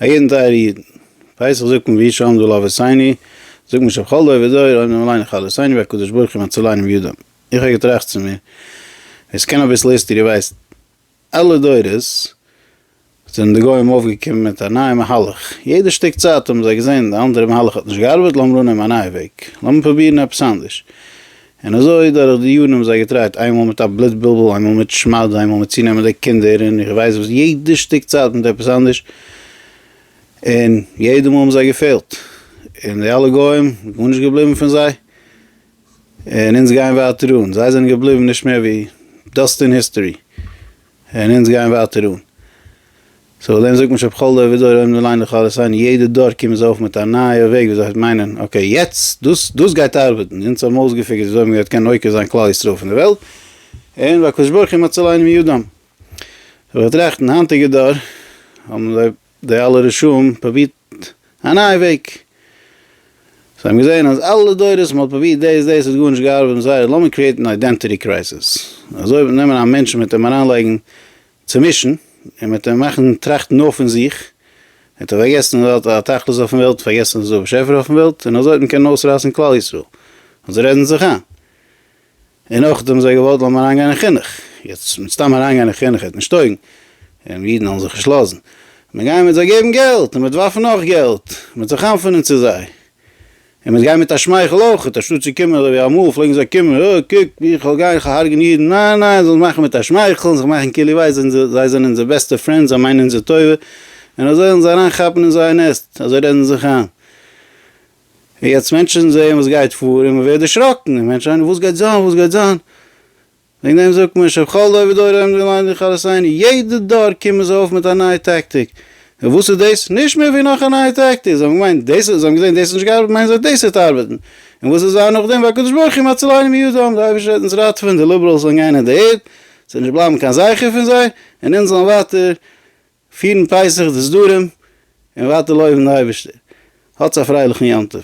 א יעדן טייערע איד, פסח זאגט מען ויהי שלום דו לא וסייני, זאגט מען שבכל דור ודור אויב נאר עלינו חלו סייני והקדוש ברוך הוא מציל עינים יודעים, איך האב געטראכט צו מיר, ווער ס'קען אביסל היסטערי ווייסט, אלע דורות זענען די גוים אויפגעקומען מיט א נייע מהלך, יעדע שטיק צייט האבן זיי געזען די אנדערע מהלך האט נישט געארבעט, לאמיר אננעמען א נייע וועג, לאמיר פרובירן עפעס אנדערש, און אזוי דורך די יארן האבן זיי געטרייט, איינמאל מיט א בלוט בלבול, איינמאל מיט שמד, איינמאל מיט צונעמען די קינדער, און איך ווייס וואס, יעדע שטיק צייט מיט עפעס אנדערש, און יעדע מאל האבן זיי געפעלט, און די אלע גוים, גארנישט געבליבן פון זיי, און אונז גייען ווייטער אן, זיי זענען געבליבן נישט מער ווי דאסט אין היסטארי, און אונז גייען ווייטער אן. סאו דעם זאגט מען שבכל דור ודור עומדים לליין לכל אסיין, יעדע דור קומען זיי אויף מיט א נייע וועג וויאזוי זיי מיינען אקעי יעצט דאס דאס גייט ארבעטן, אונז האבן אויסגעפיגערט וויאזוי מ'גייט קענען עוקר זיין כלל ישראל פון די וועלט, און והקדוש ברוך הוא מצילינו מידם. אבער טראכטן היינטיגע דור האבן זיי. די אלע רשעים פרובירט א נייע וועג. זיי האבן געזען אז אלע דורות מ'האט פרובירט דאס דאס האט גארנישט געארבעט מיט זיי, לאמיר קריעטן אן איידענטיטי קרייזיס. אזוי וועט מען נעמען א מענטש און מ'וועט אים אריינלייגן צומישן, און מ'וועט אים מאכן טראכטן נאר פון זיך, ער האט פארגעסן אז ער האט א תכלית אויפן וועלט, פארגעסן אז עס איז דא א באשעפער אויפן וועלט, און אזוי וועט מען קענען אויסראטן כלל ישראל. אזוי רעדן זיי זיך איין. און נאך דעם זיי געוואלט לאמיר אריין גיין אין חינוך, יעצט מיט סתם אריין גיין אין חינוך העט נישט טויגן, און אידן האבן זיך נישט לאזן, מיר גייען מיט זיי געבן געלט, און מיט ווארפן נאך געלט, מיט זיך חנפענען צו זיי, און מיט גיין מיט א שמייכל אויכעט, אנשטאט צו קומען אזוי ווי אמאל פלעגן זיי קומען, אה, קוק ווי איך וועל גיין, איך וועל הרג'ענען אידן, ניין, ניין, זיי זאלן מאכן מיט א שמייכל, זיך מאכן כאילו וויי זיי זענען, זיי זענען אונזער בעסטע פרענד, זיי מיינען אונזער טובה, און אזוי אונז אריין כאפן אין זייער נעסט, אזוי רעדן זיי זיך איין. און יעצט מענטשן זעען וואס גייט פאר און מען ווערט דערשראקן, און מענטשן וואס גייט זיין וואס גייט זיין, וועגן דעם זאגט מען שבכל דור ודור עומדים ללמד לכלות עיני, יעדע דור קומען זיי אויף מיט א נייע טאקטיק, און וואס איז דאס? נישט מער ווי נאך א נייע טאקטיק, זיי האבן געמיינט דאס, זיי האבן געזען דאס האט נישט געארבעט מיינען זיי דאס וועט ארבעטן, און וואס איז זיין נאכדעם? והקדוש ברוך הוא מצילנו מידם, די אייבערשטער וועט אונז ראטעווען, די ליבעראלס וועלן גיין אין די ערד, ס'וועט נישט בלייבן קיין זכר פון זיי, און אונז זאלן ווייטער פירן פסח די סדרים און ווייטער לויבן די אייבערשטער, האטס א פרייליכן יום טוב.